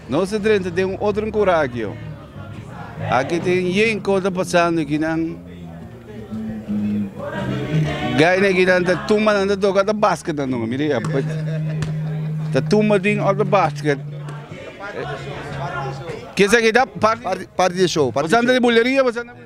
Nos ta drenta den un otro enkuragio. Aki tin yen kos ta pasando aki nan. Gai na ginan ta tumba nan ta toka ta basket nan no mire ya. pues. Ta tumba tin of ta basket. Kesa kita part Party de show. Party de show. Pasando di buleria pasando.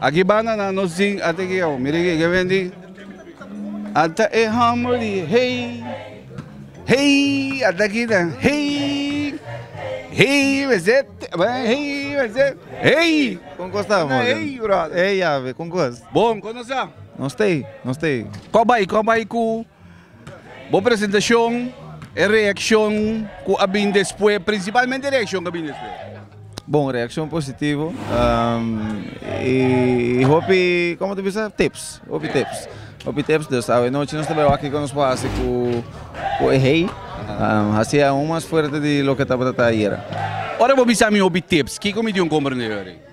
Aki banda na nos zin ate ki ao. Mira kiko e bendí. Ata e harmony hey hey ata ki ta hey hey mester hey mester hey. Kon kos ta for den. Hey brother. Hey Yave kon kos. Bon kon nos ta. Nos tei nos tei. Ko bai ko bai ku. Bo presentacion, e reaccion cu a bin despues, principalmente e reaccion cu a bin despues. Bon reaccion positivo y hopi como ta bisa tips, hopi tips, hopi tips dus awenochi nos ta bay wak kico nos por haci cu e hei haci aun mas fuerte di loke tabata ta ayera. Ora bo bisa mi hopi tips, kico mi dion comprende ayora?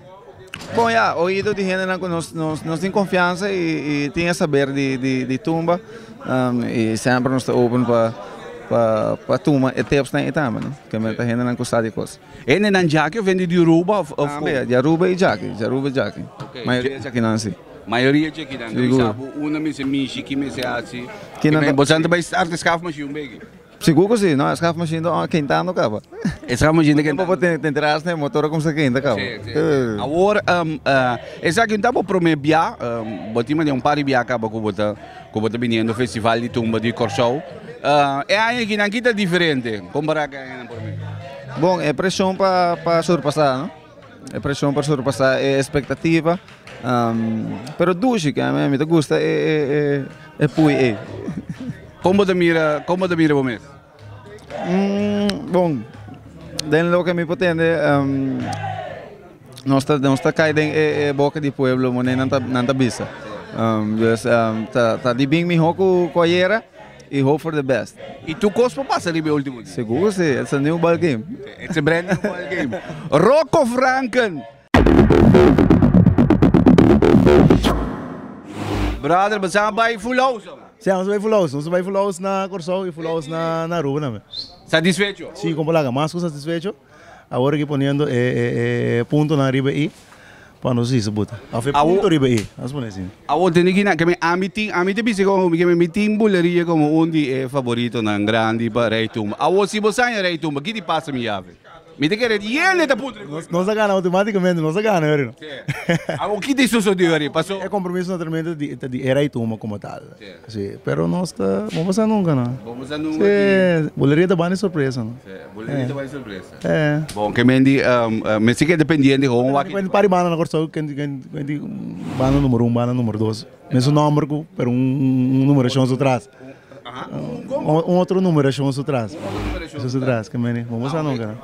Bon ya, oido di hendenan ku nos nos tin konfiansa i tin e saber di tumba, i semper nos ta open pa pa tuma e tipsnan ei tambe no, ke men ta hendenan ku sa di kos. Hendenan djaki of hende di Aruba of komo? Tambe di Aruba i djaki, di Aruba i djaki, mayoria djakinan si. Mayoria djakinan, ta bisa bo un na mester mishi ki mester hasi, bo sa ta bai start e skaf mashin un bege. Sigur ku si, no? E skaf mashin ta kentando kaba. E skaf mashin ta kentando. Bo por tende entera asna e motor a kumsa kenta kaba. Awor, esaki no ta bo promé bia. Bo tin madian un par di bia kaba ku bo ta ku bo ta biniendo Festival di Tumba di Kòrsou. E aña aki nan ki ta diferente kompará ku e añanan promé? Bon, e preshon pa surpasá, no? E preshon por surpasá e espektativa, pero dushi ke ami ta gusta e pui ei. Kon bo ta mira, kon bo ta mira bo mes? Bon, den loke mi por tende, nos ta nos ta kai den e boka di pueblo, moné nan ta nan ta bisa. Pues ta ta di bin mihó ku ayera. y hope for the best. Y tur cos por pasa riba e ultimo dia. Segur si, ets a new ball game. Ets a brand new ball game. Rocco Franken! Brother, bo sa bai full house awe? Si, nos a bai full house. Nos a bai full house na Corsou y full house na Aruba tambe. Satisfecho? Si, como laga mas cu satisfecho. Awor ki poniendo e puntonan riba e i pa nos hisi bo ta. Of e punto riba e i. Nos pone asin. Awor tene ki na keme ami tin, ami ta bisa komo mi keme mi tin Buleria komo un di e favoritonan grandi pa Rei Tumba. Awor si bo saña Rei Tumba ki di pasa mi yavi. Mi ta kere yende ta punto di kos. Nos a gana automaticamente, nos a gana yori no. Awor ki ta sosode yori paso. E compromiso naturalmente ta di e Rei Tumba komo tal. Si, pero nos ta bon pasa nunka nan. Bon pasa nunka aki. Si, buleria ta bani sorpresa nan. Si, buleria ta bani sorpresa. Eh. Bon, ke men di mester keda pendiente hoon wak. Kuenti pari banda na Kòrsou kuenti kuenti banda numero un, banda numero dos. Mesun nòmber ku pero un numerashon su tras. Un otro numerashon su tras. Un otro numerashon su tras. Su tras ke men di bon pasa nunka nan.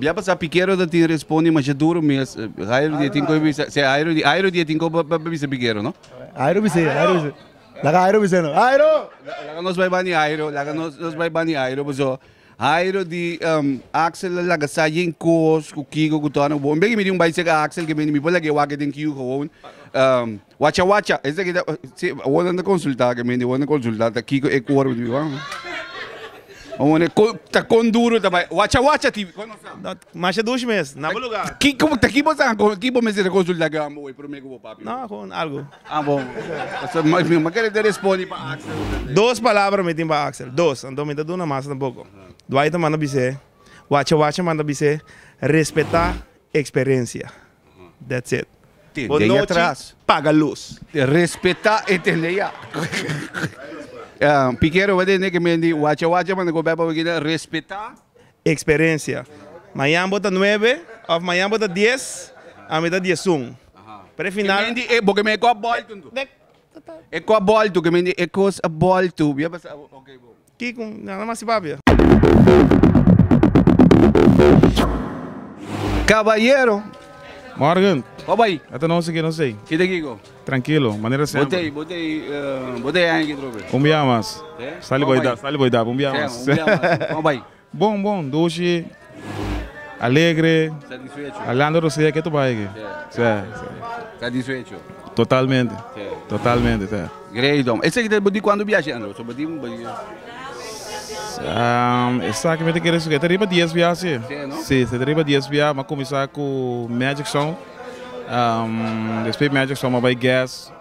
Bia pasa Piquero ta tin respondi masha duro mes. Jairo di e tin koe bisa. Se Jairo di Jairo di e tin koe pa bisa Piquero no. Jairo bisa e Jairo bisa e. Laga Jairo bisa e no. Jairo! Laga nos bai bani Jairo laga nos bai bani Jairo paso Jairo di Axel la laga sa yen kos ku Kigo ku Tony Boon. Beki mi di un bai sek Axel ke bini mi por lag'e wak e den kiu gewoon. Wacha wacha esta kita si awor nan ta consulta ke mende awor nan consulta ta kiko e coro di biban awone con ta con duro ta bai wacha wacha ti con nos ta Dat masha dush mes, na bo lugar. ki como ta ki bo sa con ki bo mester ta consulta ke ambo wei prome ku bo papi No, gewoon algo. ah bo so ma mi ma kere ta respondi pa Axel ta se Dos palabra mi tin pa Axel, dos, anto mi ta duna mas tampoco. Dwight a manda bis'é, Wacha wacha manda bis'é, respeta experencia. That's it. Bon nochi, paga lus. Respeta e tende ya. Piquero bo tende ke men di wacha wacha manda ku bèk pa bigina respeta. Eksperensia. Mañan bo ta nuebe òf mañan bo ta dies, ami ta diesun. Pero e final. Ke men di bo ke men e kòp bòltu. E kòp bòltu ke men di e kos bòltu. Kikun nan a masi papia? Caballero. Morgen. Bo bay. Ata no si ke no say. Kita kiko. Trankilo. Manera semper. Bo te bo te bo te aña ki trobe. Un bia mas. Sali bo edap sali bo edap un bia mas. Bo bay. Bon bon, dushi, alegre, Alejandro Rosea ke tu bai aki. Sa satisfecho. Totalmente. Totalmente sa. Great hombre. Esaki ta di cuando viaje Andro? So bo di bo di. Esaki mi ta kere suge ta riba dies viahe si. Si no? Si ta riba dies viahe, mi a cuminsa cu Magic Sound, despues Magic Sound mi a bai Guest.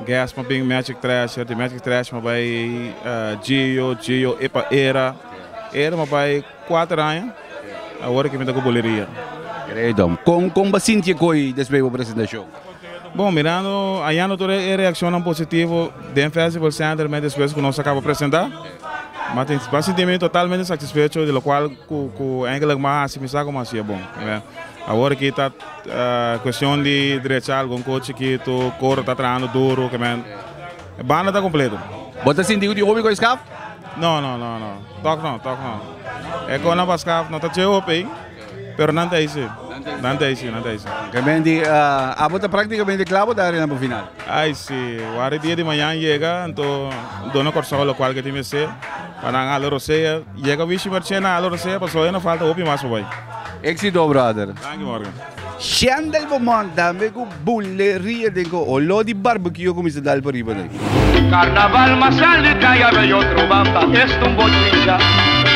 Gas ma bin Magic Thrasher, di Magic Thrasher ma bai Gio, Gio e pa Era, Era ma bai kuater aña, awor ke mi ta ku Buleria. Gredo, kon kon bo sinti e koi despues bo presentashon? Bon, mirando ayando tur e reakshonnan positivo den Festival Center mes despues ku nos a kaba presentá, mi a tin mi a sinti mi totalmente satisfecho di lokual ku ku engelik mi a hasi mi sa ku mi a hasié bon. Awor aki ta. Cuestion di drecha algun cu chikitu, coro ta trahando duro, que men. E banda ta completo. Bo ta sinti cu tin hopi cu a scaf? No, no, no, no. Tok no, tok no. E con nan pa scaf no ta dje hopi ey, pero nan ta eysi. Nan ta eysi, nan ta eysi. Oke men di, abo ta practicamente cla bo ta arena pa final? Ay si, wari dia di mañan yega, anto duna corsou locual cu tin mester. Pa nan hala rosea. Yega wishi marche nan hala rosea paso awe no falta hopi mas pa bai. Exito brother. Danki Morgan. Shendel Beaumont tambe cu bule ria den cu olor di barbecue a cuminsa dal pariba ney. Carnaval ma sali ta ya bay otro banda es tumbo chincha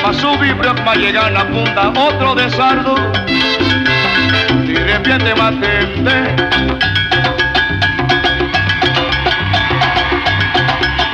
ma subi brug ma yega na punta otro desardo di repiente ma tende.